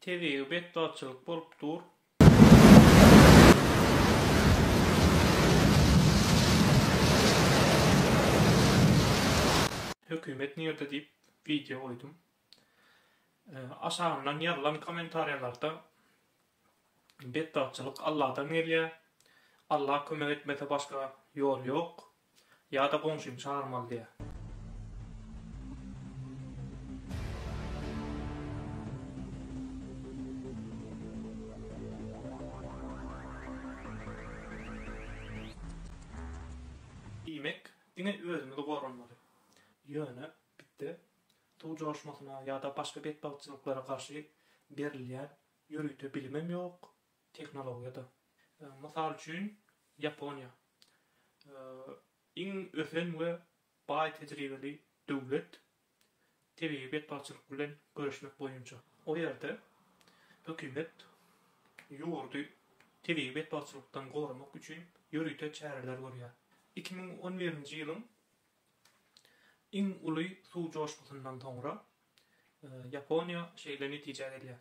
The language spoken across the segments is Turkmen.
Tebigy betbagtçylyk bolup dur. Hökümet nirde diýip wideo goýdum. Aşagyndan ýazylan kommentariýalarda betbagtçylyk Alladan gelýär, Allah kömek etmese başga ýol ýok Ýa-da goňşymy çagyrmaly diýýä. Diýmek, diňe özümizi goranmaly. Ýöne, bitde, suw joşmasyna ýa-da başga betbagtçylyklara garşy berilýän ýörite bilimem ýok, tehnologiýada. Mysal üçin, Ýaponiýa iň ösen we baý tejribeli döwlet tebigy betbagtçylyk bilen göreşmek boýunça. O ýerde hökümet ýurdy tebigy betbagtçylykdan goramak üçin ýörite çäreler görýär. Iki müň on birinji ýylyň iň uly suw joşgusyndan soňra Ýaponiýa şeýle netijä gelýär.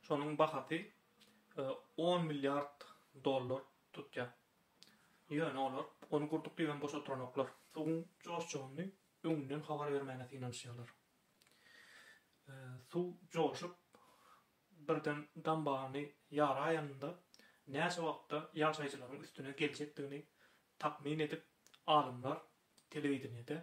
Şonuň bahasy on milliard dollar tutýar. Ýöne olar ony gurduk diýibem boş oturanoklar. Suwuň joşjagyny öňünden habar bermäge synanyşýarlar. Suw joşup, birden dambagyny ýaraýanynda näçe wagtda ýaşaýjylaryň üstüne geljekdigini takmyn edip, alymlar telewideniýede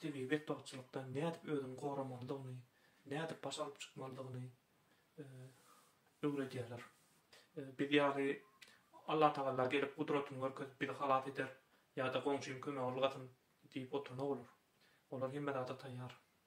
tebigy betbagtçylykdan nädip özüni goramalydygyny, nädip baş alyp çykmalydygyny öwredýärler. Biz ýaly Allatagalla gelip gudratyny görkezip bizi halas eder ýa-da goňşym kömege ylgasyn diýip oturna bolar. Olar hemme zada taýýar.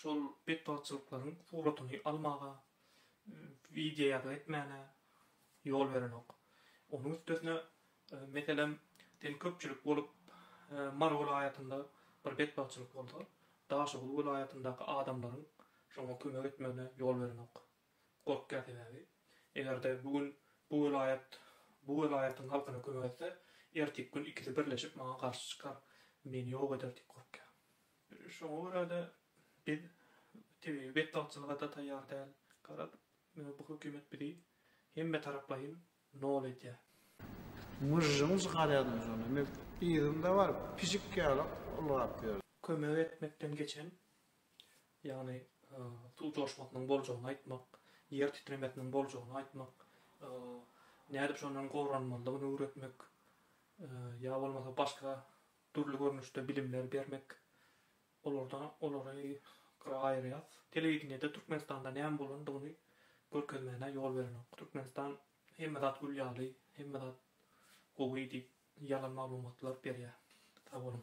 şol betbagtçylyklaryň suratyny almaga, wideoýazgy etmäne ýol berenok. Onuň üstesine, meselem, diýelim, köpçülik bolup, Mary welaýatynda bir betbagtçylyk bolsa, Daşoguz welaýatyndaky adamlaryň şoňa kömek etmegine ýol berenok. Gorkýan sebäbi, eger-de bu gün bu welaýat bu welaýatyň halkyna kömek etse, ertiki gün ikisi birleşip maňa garşy çykar, meni ýok eder diýip gorkýan. Şoňa görä-de, biz tebigy betbagtçylyga-da taýýar däl. Garaz, bu hökümet bizi hemmetaraplaýyn nol edýär. Myžžyňyz galýadym şonda. Men yzymda baryp, pişik ýaly ylgap ýördüm. Kömek etmekden geçen, ýagny suw joşmasynyň boljagyny aýtmak, ýer titremesiniň boljagyny aýtmak, nädip şondan goranmalydygyny öwretmek ýa bolmasa başga dürli görnüşde bilimler bermek. Olarda olary gyra aýyrýas. Telewideniýede Türkmenistanda näme bolandygyny görkezmäne ýol berenok. Türkmenistan hemme zat gül ýaly, hemme zat gowy diýip ýalan maglumatlar berýär. Sag boluň.